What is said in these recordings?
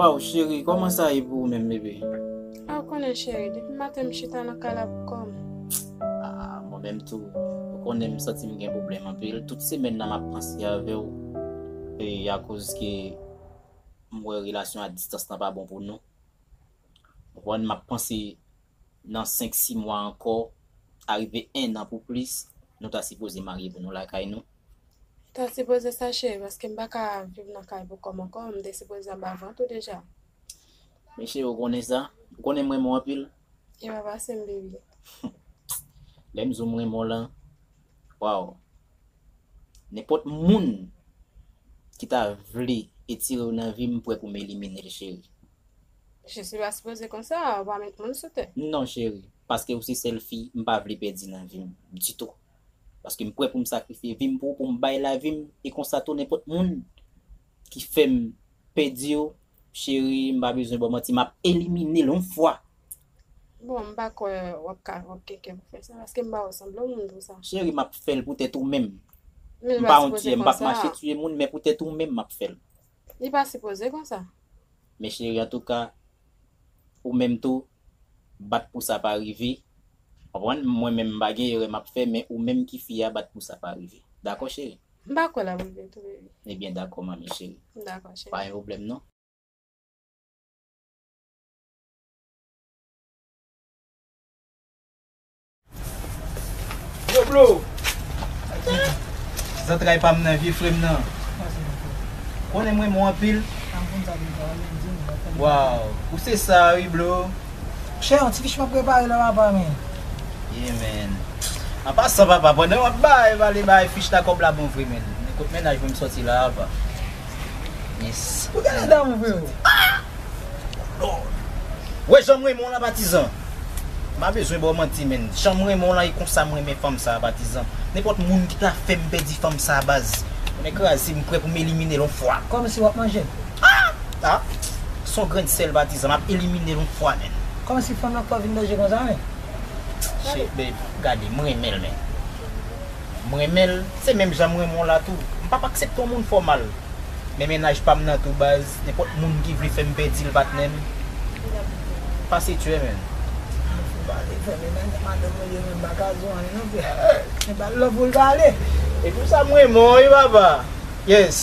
Waw cheri koman sa ye pou ou menm bebe? Ah ou konnen cheri depi maten m chita nan kay la pou kòm. Ah mwen menm tou ou konnen m santi m gen pwoblèm anpil tout semèn nan map panse avèw e akoz ke m wè relasyon a distans lan pa bon pou nou. Juan map panse nan 5 6 mwa ankò arive 1 an pou plis nou ta sipoze marye pou nou lakay nou. Ou ta sipoze sa cheri paske m paka viv nan kay pou kòm ankò m te sipoze anba vant ou deja. Mechyè ou konnen sa, ou konnen m renmen w anpil. Ewa pasem baby. Lèm zoom renmen w lan waw nenpòt moun ki ta vle etirew nan vim m prè pou m eliminel cheri. Je suis pas supposé konsa ou pa met moun sou tè. Non cheri paske ou se sèl fi m pa vle pèdi nan vim ditou paske m prè pou m sakrifye vim pou ou pou m bay lavim e konsa tou nenpòt moun ki fèm pèdiw Cheri m pa bezwen baw manti map elimine l on fwa. Bon m pa kwè wap ka wap gen kè pou fè sa paske m pa wè w sanble yon moun pou sa. Cheri map fèl pou tèt ou menm. Men li pa sipoze konsa. M pap mache tiye moun men pou tèt ou menm map fèl. Li pa sipoze konsa. Men cheri antouka ou menm tou bat pou sa pa rive konprann mwen menm m pa gen erè map fè men ou menm ki fi a bat pou sa pa rive dakò cheri. M pa kwè l ap rive tou baby. Ebyen dakò manmi cheri. M dakò cheri. Pa gen pwoblèm non. Yo blo! Zantray pa m nan vye frè m nan. Konnen m renmen w anpil. Waww ou se sa wi blo. Chè yon ti fich map prepare la papa men. Yeah man. An pasan papa pandan wap bay pale bay fich la kob la bon vre man. Men kot mennaj mwen m soti la apa. Yes. Ou gen lè damou freo. Aah! Oh Lord! Wè janm renmen w la patizan. M pa bezwen baw manti man. Janm renmen w la e konsa m renmen fanm sa patizan. Nenpot moun ki ta fem pedi fanm sa baz. Mwen kraze m prè pou m eliminel on fwa. Kòmsi wap manjel? Ah! Ah! Son grenn sèl patizan map eliminel yon fwa menn. Kòman si fanm lan pran vin danje konsa menn? Che babe gade m renmenl men m renmenl se menm jan m renmen w la tou m pap aksepte yon moun fè w mal men mennaj pam nan tou baz nenpòt moun ki vle fèm pèdil patnè m pase tchè menn. Love pou pale fèm e nan madanm mwen ye menm m paka di w anyen non frè e pa love pou l pale. E pou sa m renmen w wi papa yes.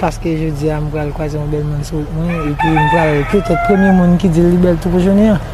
Paske jodi a m pral kwaze yon bèl moun sou wout mwen epi m pral petèt premye moun ki di l li bèl tou pou jounen an.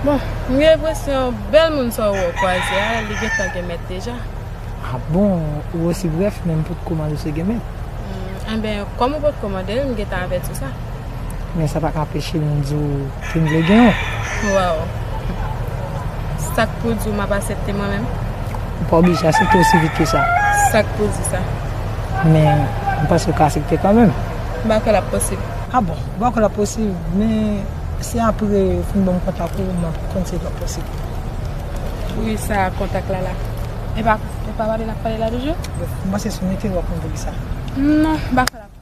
Bon, m gen enpresyon bèl moun sa w wè w kwaze a, li gentan gen mèt deja. A bon, ou osi brèf men m potko mande si l gen mèt. Enben, kòm ou potko mande l, m gentan avèti w sa. Men sa paka anpeche nou di w ke n vle gen yon. Waww. Sa k pou di w m ap asepte mwen menm? Ou pa oblije asepte osi vit ke sa. Sa k pou di sa? Men, m panse ou ka asepte kanmenm. M pa kwè l ap posib. A bon. Ou pa kwè l ap posib? Men, se apre ou fin ban m kontak ou, m ap konn si l ap posib. Wi, sa a kontak la la. Epa, epa pale n ap pale la toujou? M panse si w mete l w ap konn pou ki sa. Non, m pa kwè l ap.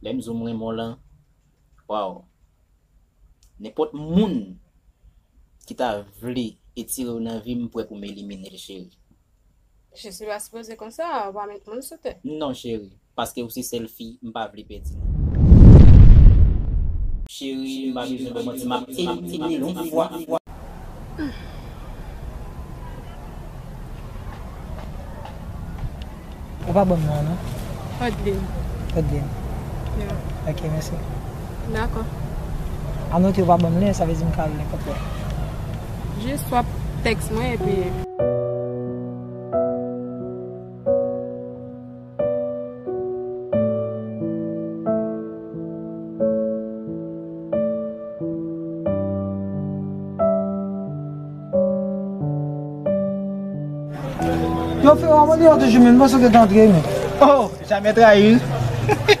Lè m di w m renmen w lan, waww, nenpòt moun ki ta vle etire w nan vi m prè pou m elimine l cheri. Jezi pa sipoze konsa, ou pa met moun sou tè. Non cheri, paske ou se sèl fi m pa vle pèdi nan. Cheri m pa bezwen fè manti, m ap elimine l yon fwa. Ou pa banm non an non. Odeline. Odeline. Yeah. Ok, mèsi. Dakò. Anote ou pa banm lè, sa vle di m ka al nenpòt lè. Jis wap tèks mwen epi. Yo fè w amoni yo toujou menm, mwen sou ke t antre menm. Oh, jamè trayi l.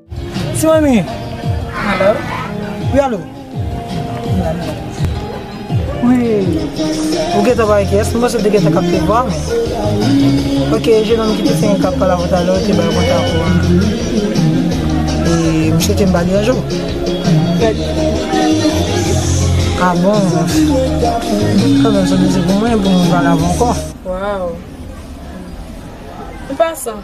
Ti manmi. Hello. Wi alo. Wi. Ou gen ta bay kyes. Mwen se te gen ta kap te vwa men. Ok, je nan ki te se yon kap pala vota lò. Te bay konta pou an. E mwen se te mba li anjou. A bon. Kwa mwen se te se pou mwen pou mwen vwa la vwa anko. Waw. Mwen pa san.